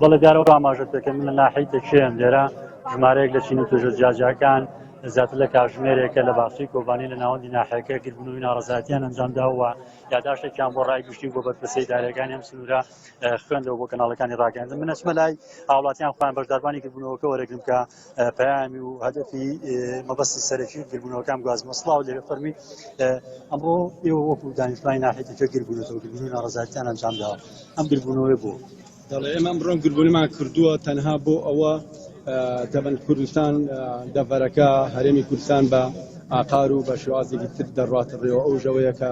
بەڵێ دیارە ئەو ئاماژەت پێکەم من لە ناحەی تەکێم لێرە ژمارەیەک لە چین و توێژە جیاجیاکان زیاتر لە کاژمێرێکە لە باخچەی کۆبانی لە ناوەندی ناحەکە گربوونەوەی ناڕزاتیان ئەنجامداوە یاداشتێکیان بۆ ڕای گشتی بۆ بەرپرسی دارەکانی ئەم سنوورە خوێندەوە بۆ کەناڵەکانی ڕاگەاندن منەسمە لای هاوڵاتیان خۆیان بەشداربانی گربوونەوەکە وەرەگرم کە پەیامی و هەدەفی مەبەستی سەرەکی گربوونەوەکان گوازمە سلااو لێ فەرمی ئەمڕۆ ئێوە وەکو دانیشتوانی ناحێتەکە گربوونەوە گربوون ناڕزارتیان ئەنجامداوە ئەم گربوونەوەی بۆ دەڵێ ئێمە ئەمڕۆم گربوونمان کردووە تەنها بۆ ئەوە دەبن کوردستان دەڤەرەکە هەرێمی کوردستان بە ئاقار و بە شێوازێکی تر دەڕاتەڕێەوە ئەو ژەوەیەکە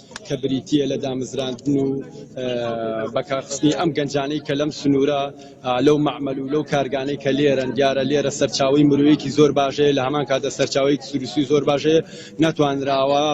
کە بریتییە لە دامزراندن و بەکارخستنی ئەم گەنجانەی کە لەم سنوورە لەو مەعمەل و لەو کارگانەی کە لێرەن دیارە لێرە سەرچاوی مرۆیەکی زۆر باشەیە لە هەمان کاتە سەرچاوەیەکی سروشتی زۆر باشەیە ناتوانراوە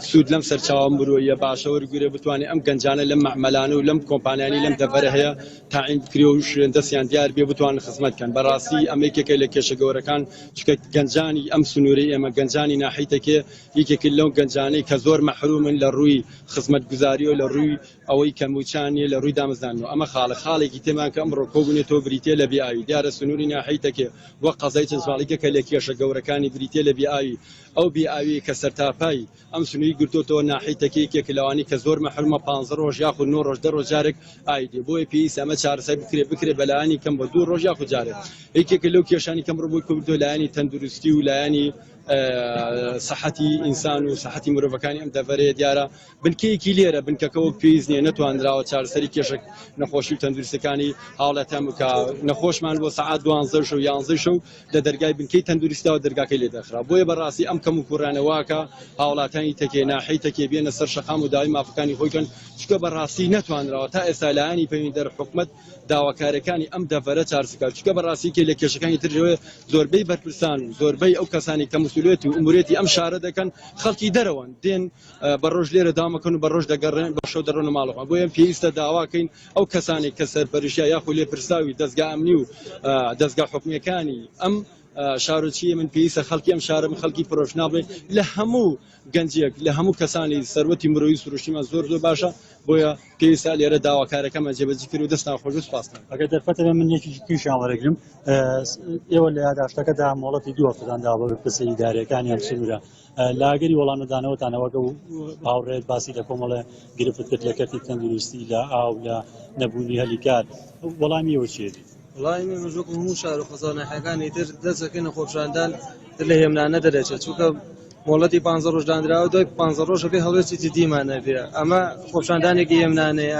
سوود لەم سەرچاوە مرۆیە باشە وەرگرێ بتوانێت ئەم گەنجانە لەم مەعمەلانە و لەم کۆمپانیانی لەم دەڤەرە هەیە تاعین بکرێ و شوێن دەستیان دیار بێ بتوان خزمەت کەن بەڕاستی ئەمە یەکێکە لە کێشە گەورەکان چکە گەنجانی ئەم سنوورەی ئێمە گەنجانی ناحیتەکێ یەکێکن لەو گەنجانەی کە زۆر مەحرومن لە ڕووی خزمەتگوزاری و لە ڕووی ئەوەی کە مووچەیان نییە لە ڕووی دامەزراندنەوە ئەمە خاڵە خاڵێکی تێمان کە ئەمڕۆ کۆبوونەتەوە بریتییە لە بێ ئاوی دیارە سنووری ناحیەی تەکێ و قەزای چەنچڤاڵیکە کە لە کێشە گەورەکانی بریتییە لە بێ ئاوی ئەو بێ ئاویەی کە سەرتاپای ئەم سنووری گرتۆتەوە ناحیەی تەکێ یەکێکە لەوانەی کە زۆر مەحرومە پانزە ڕۆژ یاخود نۆ ڕۆژ دە ڕۆژ جارێک ئاوی دێ بۆیە پێویستە ئەمە چارەسەر بکرێ بکرێ بە لایەنی کەم بە دوو ڕۆژ یاخود جارێک یەکێکە لەو کێشانەی کە ئەمڕۆ بۆی کۆبوونەتەوە لایەنی تەندروستی و لایەنی سەحەتی ئینسان و سەحەتی مرۆڤەکانی ئەم دەڤەرەیە دیارە بنکەیەکی لێرە بنکەکە وەک پێویست نیە نەتواندراوە چارسەری کێشک نەخۆشی و تەندروستەکانی هاوڵاتیان بکە نەخۆشمان بۆ سعات دوانزە شو یانزە شو لە دەرگای بنکەی تەندروستیەوە دەرگاکەی لێ دەخرا بۆیە بەڕاستی ئەم کەم و کوڕانەواکە هاوڵاتانی تەکێ ناحی تەکێ بێنە سەر شەقام و داوای مافەکانی خۆیکەن چکە بەڕاستی نەتوانراوە تا ئێستا لایانی پەیوەندیدار حکومەت داواکارەکانی ئەم دەڤەرە چارس بکات چونکە بەڕاستی کێ لە کێشەکانی تر ئەوێ زۆربەی بەرپرسان و زۆربەی ئەو کەسانی کە مسولێت و ئومورێتی ئەم شارە دەکەن خەڵکی دەرەوەن دێن بە ڕۆژ لێرە دامەکەن و بە ڕۆژ دەگەڕێن بە شەو دەڕۆن و ماڵەوە بۆ ئەم پێویستە داواکەین ئەو کەسانی کە سەرپەرشتیا یاخو لێ پرساوی دەستگا ئەمنی و دەستگا حکومیەکانی ئەم شارۆچیە من پێویستە خەڵکی ئەم شارم خەڵکی پرۆشنابێت لە هەموو گەنجیەک لە هەموو کەسانی سەروەتی مرۆیی سروشتیمان زۆر زۆر باشە بۆیە پێویستە لێرە داواکارەکەمان جێبەجی کرد و دەستان خۆش و سپاستان. ئەگەر دەرفەتە بێ من یەکێکی تریشیان وەرەگرم ئێوە لە یاداشتەکەدا مۆڵەتی دوو هەفتەتان داوە بە بەرپرسە ئیداریەکان یان سنوورە لە ئەگەری وەڵام نەدانەوەتان ئەوەگە و هاوڕێت باسی لە کۆمەڵە گرفت کرد لە کەرتی تەندروستی لە ئاو لە نەبوونی هەلی کار وەڵامی ئێوە چیە بێت؟ وەڵامی من وەک هەموو شار و قەزا و ناحیەکانی تر دەست دەکەینە خۆپیشاندان لە هێمنانە دەرەچێت چونکە مۆڵەتی پانزە ڕۆژ دانراوە دوای پانزە ڕۆژەکەی هەڵوێستی جدیمان ئەبێ ئەمە خۆپیشاندانێکی هێمنانەیە.